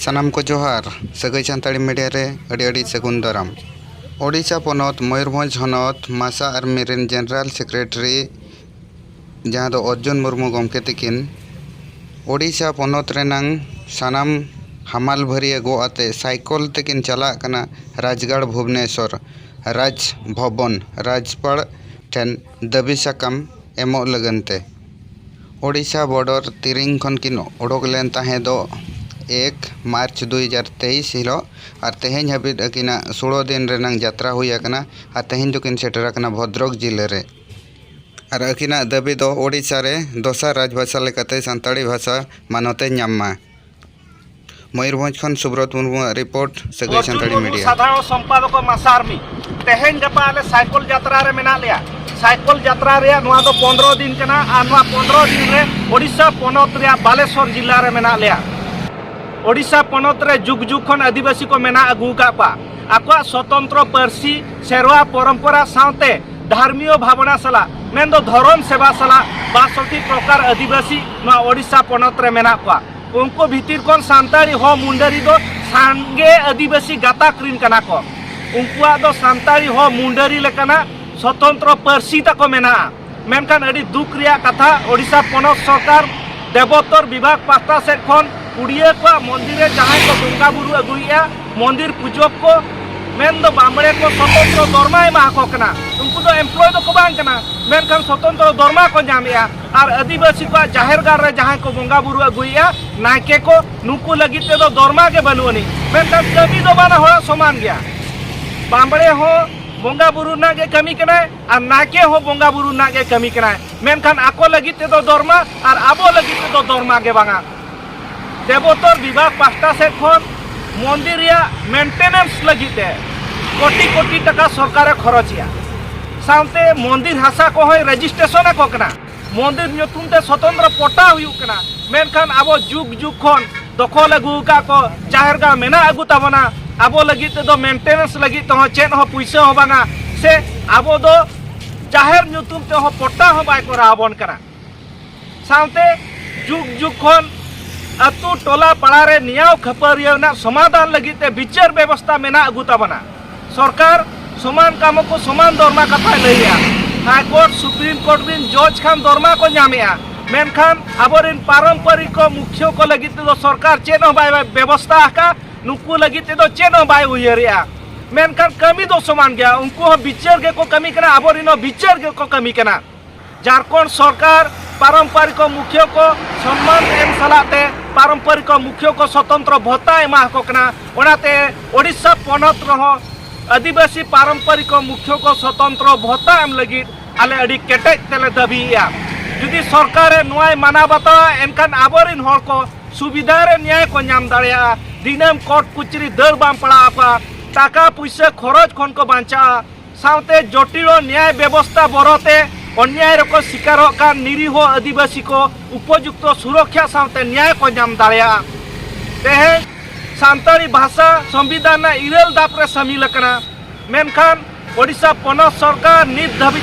ᱥᱟᱱᱟᱢ ᱠᱚ ᱡᱚᱦᱟᱨ ᱥᱟᱹᱜᱟᱹᱭ ᱥᱟᱱᱛᱟᱲᱤ ᱢᱤᱰᱤᱭᱟ ᱨᱮ ᱟᱹᱰᱤ ᱟᱹᱰᱤ ᱥᱟᱹᱜᱩᱱ ᱫᱟᱨᱟᱢ ᱳᱰᱤᱥᱟ ᱯᱚᱱᱚᱛ ᱢᱚᱭᱩᱨᱵᱷᱚᱸᱡᱽ ᱦᱚᱱᱚᱛ ᱢᱟᱥᱟ ᱟᱨᱢᱤ ᱨᱮᱱ ᱡᱮᱱᱟᱨᱮᱞ ᱥᱮᱠᱨᱮᱴᱟᱨᱤ ᱡᱟᱦᱟᱸ ᱫᱚ ᱚᱨᱡᱩᱱ ᱢᱩᱨᱢᱩ ᱜᱚᱢᱠᱮ ᱛᱟᱹᱠᱤᱱ ᱳᱰᱤᱥᱟ ᱯᱚᱱᱚᱛ ᱨᱮᱱᱟᱝ ᱥᱟᱱᱟᱢ ᱦᱟᱢᱟᱞ ᱵᱷᱟᱹᱨᱭᱟᱹ ᱜᱚᱜ ᱟᱛᱮᱫ ᱥᱟᱭᱠᱮᱞ ᱛᱮᱠᱤᱱ ᱪᱟᱞᱟᱜ ᱠᱟᱱᱟ ᱨᱟᱡᱽᱜᱟᱲ ᱵᱷᱩᱵᱽᱱᱮᱥᱚᱨ ᱨᱟᱡᱽ ᱵᱷᱚᱵᱚᱱ ᱨᱟᱡᱽᱯᱟᱲ ᱴᱷᱮᱱ ᱫᱟᱹᱵᱤ ᱥᱟᱠᱟᱢ ᱮᱢᱚᱜ ᱞᱟᱹᱜᱤᱫ ᱛᱮ ᱳᱰᱤᱥᱟ ᱵᱚᱰᱚᱨ ᱛᱤᱨᱤᱝ ᱠᱷᱚᱱ ᱠᱤᱱ ᱚᱰᱚᱠ ᱞᱮᱱ ᱛᱟᱦᱮᱸ ᱫᱚ ᱮᱠ ᱢᱟᱨᱪ ᱫᱩ ᱦᱟᱡᱟᱨ ᱛᱮᱭᱤᱥ ᱦᱤᱞᱚᱜ ᱟᱨ ᱛᱮᱦᱮᱧ ᱦᱟᱹᱵᱤᱫ ᱟᱹᱠᱤᱱᱟᱜ ᱥᱳᱲᱳ ᱫᱤᱱ ᱨᱮᱱᱟᱝ ᱡᱟᱛᱨᱟ ᱦᱩᱭ ᱟᱠᱟᱱᱟ ᱟᱨ ᱛᱮᱦᱮᱧ ᱫᱚ ᱠᱤᱱ ᱥᱮᱴᱮᱨ ᱟᱠᱟᱱᱟ ᱵᱷᱚᱫᱽᱨᱚᱠ ᱡᱤᱞᱟᱹ ᱨᱮ ᱟᱨ ᱟᱹᱠᱤᱱᱟᱜ ᱫᱟᱹᱵᱤ ᱫᱚ ᱳᱰᱤᱥᱟ ᱨᱮ ᱫᱚᱥᱟᱨ ᱨᱟᱡᱽ ᱵᱷᱟᱥᱟ ᱞᱮᱠᱟᱛᱮ ᱥᱟᱱᱛᱟᱲᱤ ᱵᱷᱟᱥᱟ ᱢᱟᱱᱚᱛ ᱮ ᱧᱟᱢ ᱢᱟ ᱢᱚᱭᱩᱨᱵᱷᱚᱸᱡᱽ ᱠᱷᱚᱱ ᱥᱩᱵᱨᱚᱛ ᱢᱩᱨᱢᱩ ᱟᱜ ᱨᱤᱯᱳᱨᱴ ᱥᱟᱹᱜᱟᱹᱭ ᱥᱟᱱᱛᱟᱲᱤ ᱢᱤᱰᱤᱭᱟ ᱥᱟᱫᱷᱟᱨᱚᱱ ᱥᱚᱢᱯᱟᱫᱚᱠ ᱢᱟᱥᱟ ᱟᱨᱢᱤ ᱛᱮᱦᱮᱧ ᱜᱟᱯᱟ ᱟᱞᱮ ᱥᱟᱭᱠᱚᱞ ᱡᱟᱛᱨᱟ ᱨᱮ ᱢᱮᱱᱟᱜ ᱞᱮᱭᱟ ᱥᱟᱭᱠᱚᱞ ᱡᱟᱛᱨᱟ ᱨᱮᱭᱟᱜ ᱱᱚᱣᱟ ᱫᱚ ᱯᱚᱱᱨᱚ ᱫᱤᱱ ᱠᱟᱱᱟ ᱟᱨ ᱱᱚᱣᱟ ᱯᱚᱱᱨᱚ ᱫᱤᱱ ᱨᱮ ᱳᱰᱤᱥᱟ ᱯᱚᱱᱚᱛ ᱨᱮᱭᱟᱜ ᱵᱟᱞᱮᱥᱚᱨ ᱡᱤᱞᱟ ᱨᱮ ᱢᱮᱱᱟᱜ ᱞᱮᱭᱟ ᱳᱰᱤᱥᱟ ᱯᱚᱱᱚᱛ ᱨᱮ ᱡᱩᱜᱽ ᱡᱩᱜᱽ ᱠᱷᱚᱱ ᱟᱹᱫᱤᱵᱟᱹᱥᱤ ᱠᱚ ᱢᱮᱱᱟᱜ ᱟᱹᱜᱩ ᱟᱠᱟᱫ ᱠᱚᱣᱟ ᱟᱠᱚᱣᱟᱜ ᱥᱚᱛᱚᱱᱛᱨᱚ ᱯᱟᱹᱨᱥᱤ ᱥᱮᱨᱣᱟ ᱯᱚᱨᱚᱢᱯᱚᱨᱟ ᱥᱟᱶᱛᱮ ᱫᱷᱟᱨᱢᱤᱭᱚ ᱵᱷᱟᱵᱽᱱᱟ ᱥᱟᱞᱟᱜ ᱢᱮᱱᱫᱚ ᱫᱷᱚᱨᱚᱢ ᱥᱮᱵᱟ ᱥᱟᱞᱟᱜ ᱵᱟᱥᱚᱴᱤ ᱯᱨᱚᱠᱟᱨ ᱟᱹᱫᱤᱵᱟᱹᱥᱤ ᱱᱚᱣᱟ ᱳᱰᱤᱥᱟ ᱯᱚᱱᱚᱛ ᱨᱮ ᱢᱮᱱᱟᱜ ᱠᱚᱣᱟ ᱩᱱᱠᱩ ᱵᱷᱤᱛᱤᱨ ᱠᱷᱚᱱ ᱥᱟᱱᱛᱟᱲᱤ ᱦᱚᱸ ᱢᱩᱱᱰᱟᱹᱨᱤ ᱫᱚ ᱥᱟᱸᱜᱮ ᱟᱹᱫᱤᱵᱟᱹᱥᱤ ᱜᱟᱛᱟᱠ ᱨᱤᱱ ᱠᱟᱱᱟ ᱠᱚ ᱩᱱᱠᱩᱣᱟᱜ ᱫᱚ ᱥᱟᱱᱛᱟᱲᱤ ᱦᱚᱸ ᱢᱩᱱᱰᱟᱹᱨᱤ ᱞᱮᱠᱟᱱᱟᱜ ᱥᱚᱛᱚᱱᱛᱨᱚ ᱯᱟᱹᱨᱥᱤ ᱛᱟᱠᱚ ᱢᱮᱱᱟᱜᱼᱟ ᱢᱮᱱᱠᱷᱟᱱ ᱟᱹᱰᱤ ᱫᱩᱠ ᱨᱮᱭᱟᱜ ᱠᱟᱛᱷᱟ ᱳᱰᱤᱥᱟ ᱯᱚᱱᱚᱛ ᱥᱚᱨᱠᱟᱨ ᱫᱮᱵᱚᱛᱚᱨ ᱵᱤᱵᱷᱟᱜᱽ ᱯᱟᱦᱴᱟ ᱥᱮᱫ ᱠᱷᱚᱱ ᱩᱰᱤᱭᱟᱹ ᱠᱚᱣᱟᱜ ᱢᱚᱱᱫᱤᱨ ᱨᱮ ᱡᱟᱦᱟᱸᱭ ᱠᱚ ᱵᱚᱸᱜᱟ ᱵᱩᱨᱩ ᱟᱹᱜᱩᱭᱮᱫᱼᱟ ᱢᱚᱱᱫᱤᱨ ᱯᱩᱡᱚᱠ ᱠᱚ ᱢᱮᱱ ᱫᱚ ᱵᱟᱢᱲᱮ ᱠᱚ ᱥᱚᱛᱚᱱᱛᱨᱚ ᱫᱚᱨᱢᱟ ᱮᱢᱟ ᱟᱠᱚ ᱠᱟᱱᱟ ᱩᱱᱠᱩ ᱫᱚ ᱮᱢᱯᱞᱚᱭ ᱫᱚᱠᱚ ᱵᱟᱝ ᱠᱟᱱᱟ ᱢᱮᱱᱠᱷᱟᱱ ᱥᱚᱛᱚᱱᱛᱨᱚ ᱫᱚᱨᱢᱟ ᱠᱚ ᱧᱟᱢᱮᱫᱼᱟ ᱟᱨ ᱟᱹᱫᱤᱵᱟᱹᱥᱤ ᱠᱚᱣᱟᱜ ᱡᱟᱦᱮᱨ ᱜᱟᱲ ᱨᱮ ᱡᱟᱦᱟᱸᱭ ᱠᱚ ᱵᱚᱸᱜᱟ ᱵᱩᱨᱩ ᱟᱹᱜᱩᱭᱮᱜᱼᱟ ᱱᱟᱭᱠᱮ ᱠᱚ ᱱᱩᱠᱩ ᱞᱟᱹᱜᱤᱫ ᱛᱮᱫᱚ ᱫᱚᱨᱢᱟ ᱜᱮ ᱵᱟᱹᱱᱩᱜ ᱟᱹᱱᱤᱡ ᱢᱮᱱᱠᱷᱟᱱ ᱠᱟᱹᱢᱤ ᱫᱚ ᱵᱟᱱᱟ ᱦᱚᱲᱟᱜ ᱥᱚᱢᱟᱱ ᱜᱮᱭᱟ ᱵᱟᱢᱵᱲᱮ ᱦᱚᱸ ᱵᱚᱸᱜᱟ ᱵᱩᱨᱩ ᱨᱮᱱᱟᱜ ᱜᱮ ᱠᱟᱹᱢᱤ ᱠᱟᱱᱟᱭ ᱟᱨ ᱱᱟᱭᱠᱮ ᱦᱚᱸ ᱵᱚᱸᱜᱟ ᱵᱩᱨᱩ ᱨᱮᱱᱟᱜ ᱜᱮ ᱠᱟᱹᱢᱤ ᱠᱟᱱᱟᱭ ᱢᱮᱱᱠᱷᱟᱱ ᱟᱠᱚ ᱞᱟᱹᱜᱤᱫ ᱛᱮᱫᱚ ᱫᱚᱨᱢᱟ ᱟᱨ ᱟᱵᱚ ᱞᱟᱹᱜᱤᱫ ᱛᱮᱫᱚ ᱫᱚᱨᱢᱟ ᱜᱮ ᱵᱟᱝᱟ ᱫᱮᱵᱚᱛᱚᱨ ᱵᱤᱵᱷᱟᱜᱽ ᱯᱟᱥᱴᱟ ᱥᱮᱫ ᱠᱷᱚᱱ ᱢᱚᱱᱫᱤᱨ ᱨᱮᱭᱟᱜ ᱢᱮᱱᱴᱮᱱᱮᱱᱥ ᱞᱟᱹᱜᱤᱫ ᱛᱮ ᱠᱳᱴᱤ ᱠᱳᱴᱤ ᱴᱟᱠᱟ ᱥᱚᱨᱠᱟᱨᱮ ᱠᱷᱚᱨᱚᱪᱮᱜᱼᱟ ᱥᱟᱶᱛᱮ ᱢᱚᱱᱫᱤᱨ ᱦᱟᱥᱟ ᱠᱚᱦᱚᱸᱭ ᱨᱮᱡᱤᱥᱴᱨᱮᱥᱚᱱ ᱟᱠᱚ ᱠᱟᱱᱟ ᱢᱚᱱᱫᱤᱨ ᱧᱩᱛᱩᱢ ᱛᱮ ᱥᱚᱛᱚᱱᱛᱨᱚ ᱯᱚᱴᱟ ᱦᱩᱭᱩᱜ ᱠᱟᱱᱟ ᱢᱮᱱᱠᱷᱟᱱ ᱟᱵᱚ ᱡᱩᱜᱽ ᱡᱩᱜᱽ ᱠᱷᱚᱱ ᱫᱚᱠᱷᱚᱞ ᱟᱹᱜᱩ ᱟᱠᱟᱫ ᱠᱚ ᱡᱟᱦᱮᱨ ᱜᱟᱲ ᱢᱮᱱᱟᱜ ᱟᱹᱜᱩ ᱛᱟᱵᱚᱱᱟ ᱟᱵᱚ ᱞᱟᱹᱜᱤᱫ ᱛᱮᱫᱚ ᱢᱮᱱᱴᱮᱱᱮᱱᱥ ᱞᱟᱹᱜᱤᱫ ᱛᱮᱦᱚᱸ ᱪᱮᱫ ᱦᱚᱸ ᱯᱩᱭᱥᱟᱹ ᱦᱚᱸ ᱵᱟᱝᱟ ᱥᱮ ᱟᱵᱚ ᱫᱚ ᱡᱟᱦᱮᱨ ᱧᱩᱛᱩᱢ ᱛᱮᱦᱚᱸ ᱯᱚᱴᱟ ᱦᱚᱸ ᱵᱟᱭ ᱠᱚᱨᱟᱣ ᱟᱵᱚᱱ ᱠᱟᱱᱟ ᱥᱟᱶᱛᱮ ᱡᱩᱜᱽ ᱡᱩᱜᱽ ᱠᱷᱚᱱ ᱟᱹᱛᱩ ᱴᱚᱞᱟ ᱯᱟᱲᱟ ᱨᱮ ᱱᱤᱭᱟᱣ ᱠᱷᱟᱹᱯᱟᱹᱨᱤᱭᱟᱹ ᱨᱮᱱᱟᱜ ᱥᱚᱢᱟᱫᱷᱟᱱ ᱞᱟᱹᱜᱤᱫ ᱛᱮ ᱵᱤᱪᱟᱹᱨ ᱵᱮᱵᱚᱥᱛᱷᱟ ᱢᱮᱱᱟᱜ ᱟᱹᱜᱩ ᱛᱟᱵᱚᱱᱟ ᱥᱚᱨᱠᱟᱨ ᱥᱚᱢᱟᱱ ᱠᱟᱢ ᱠᱚ ᱥᱚᱢᱟᱱ ᱫᱚᱨᱢᱟ ᱠᱟᱛᱷᱟᱭ ᱞᱟᱹᱭᱮᱜᱼᱟ ᱦᱟᱭ ᱠᱳᱨᱴ ᱥᱩᱯᱨᱤᱢ ᱠᱳᱨᱴ ᱨᱤᱱ ᱡᱚᱡᱽ ᱠᱷᱟᱱ ᱫᱚᱨᱢᱟ ᱠᱚ ᱧᱟᱢᱮᱜᱼᱟ ᱢᱮᱱᱠᱷᱟᱱ ᱟᱵᱚᱨᱤᱱ ᱯᱟᱨᱚᱢᱯᱚᱨᱤᱠ ᱠᱚ ᱢᱩᱠᱷᱭᱚ ᱠᱚ ᱞᱟᱹᱜᱤᱫ ᱛᱮᱫᱚ ᱥᱚᱨᱠᱟᱨ ᱪᱮᱫ ᱦᱚᱸ ᱵᱟᱭ ᱵᱮᱵᱚᱥᱛᱷᱟ ᱟᱠᱟᱫᱼᱟ ᱱᱩᱠᱩ ᱞᱟᱹᱜᱤᱫ ᱛᱮᱫᱚ ᱪᱮᱫ ᱦᱚᱸ ᱵᱟᱭ ᱩᱭᱦᱟᱹᱨᱮᱜᱼᱟ ᱢᱮᱱᱠᱷᱟᱱ ᱠᱟᱹᱢᱤ ᱫᱚ ᱥᱚᱢᱟᱱ ᱜᱮᱭᱟ ᱩᱱᱠᱩ ᱦᱚᱸ ᱵᱤᱪᱟᱹᱨ ᱜᱮᱠᱚ ᱠᱟᱹᱢᱤ ᱠᱟᱱᱟ ᱟᱵᱚᱨᱤᱱ ᱦᱚᱸ ᱵᱤᱪᱟᱹᱨ ᱜᱮᱠᱚ ᱠᱟᱹᱢᱤ ᱠᱟᱱᱟ ᱡᱷᱟᱨᱠᱷᱚᱸᱰ ᱥᱚᱨᱠᱟᱨ ᱯᱟᱨᱚᱢᱯᱟᱨᱤᱠ ᱢᱩᱠᱷᱤᱭᱟᱹ ᱠᱚ ᱥᱚᱱᱢᱟᱱ ᱮᱢ ᱥᱟᱞᱟᱜ ᱛᱮ ᱯᱟᱨᱚᱢᱯᱟᱨᱤᱠ ᱢᱩᱠᱷᱤᱭᱟᱹ ᱠᱚ ᱥᱚᱛᱚᱱᱛᱨᱚ ᱵᱷᱚᱛᱟ ᱮᱢᱟ ᱟᱠᱚ ᱠᱟᱱᱟ ᱚᱱᱟᱛᱮ ᱳᱰᱤᱥᱟ ᱯᱚᱱᱚᱛ ᱨᱮᱦᱚᱸ ᱟᱹᱫᱤᱵᱟᱹᱥᱤ ᱯᱟᱨᱚᱢᱯᱟᱨᱤᱠ ᱢᱩᱠᱷᱤᱭᱟᱹ ᱠᱚ ᱥᱚᱛᱚᱱᱛᱨᱚ ᱵᱷᱚᱛᱟ ᱮᱢ ᱞᱟᱹᱜᱤᱫ ᱟᱞᱮ ᱟᱹᱰᱤ ᱠᱮᱴᱮᱡ ᱛᱮᱞᱮ ᱫᱟᱹᱵᱤᱭᱮᱜᱼᱟ ᱡᱩᱫᱤ ᱥᱚᱨᱠᱟᱨᱮ ᱱᱚᱣᱟᱭ ᱢᱟᱱᱟᱣ ᱵᱟᱛᱟᱣᱟ ᱮᱱᱠᱷᱟᱱ ᱟᱵᱚᱨᱤᱱ ᱦᱚᱲ ᱠᱚ ᱥᱩᱵᱤᱫᱷᱟ ᱨᱮ ᱱᱭᱟᱭ ᱠᱚ ᱧᱟᱢ ᱫᱟᱲᱮᱭᱟᱜᱼᱟ ᱫᱤᱱᱟᱹᱢ ᱠᱳᱨᱴ ᱠᱩᱪᱨᱤ ᱫᱟᱹᱲ ᱵᱟᱝ ᱯᱟᱲᱟᱣ ᱟᱠᱚᱣᱟ ᱴᱟᱠᱟ ᱯᱩᱭᱥᱟᱹ ᱠᱷᱚᱨᱚᱪ ᱠᱷᱚᱱ ᱠᱚ ᱵᱟᱧᱪᱟᱜᱼᱟ ᱥᱟᱶᱛᱮ ᱡᱚᱴᱤᱞ ᱱᱮᱭᱟᱭ ᱵᱮᱵᱚᱥᱛᱟ ᱵᱚᱨᱚᱛᱮ ᱚᱱᱭᱟᱭ ᱨᱮᱠᱚ ᱥᱤᱠᱟᱨᱚᱜ ᱠᱟᱱ ᱱᱤᱨᱤᱦᱚ ᱟᱹᱫᱤᱵᱟᱹᱥᱤ ᱠᱚ ᱩᱯᱚᱡᱩᱠᱛᱚ ᱥᱩᱨᱚᱠᱷᱟ ᱥᱟᱶᱛᱮ ᱱᱮᱭᱟᱭ ᱠᱚ ᱧᱟᱢ ᱫᱟᱲᱮᱭᱟᱜᱼᱟ ᱛᱮᱦᱮᱧ ᱥᱟᱱᱛᱟᱲᱤ ᱵᱷᱟᱥᱟ ᱥᱚᱝᱵᱤᱫᱷᱟᱱ ᱨᱮᱱᱟᱜ ᱤᱨᱟᱹᱞ ᱫᱟᱯ ᱨᱮ ᱥᱟᱹᱢᱤᱞ ᱟᱠᱟᱱᱟ ᱢᱮᱱᱠᱷᱟᱱ ᱳᱰᱤᱥᱟ ᱯᱚᱱᱚᱛ ᱥᱚᱨᱠᱟᱨ ᱱᱤᱛ ᱫᱷᱟᱹᱵᱤᱡ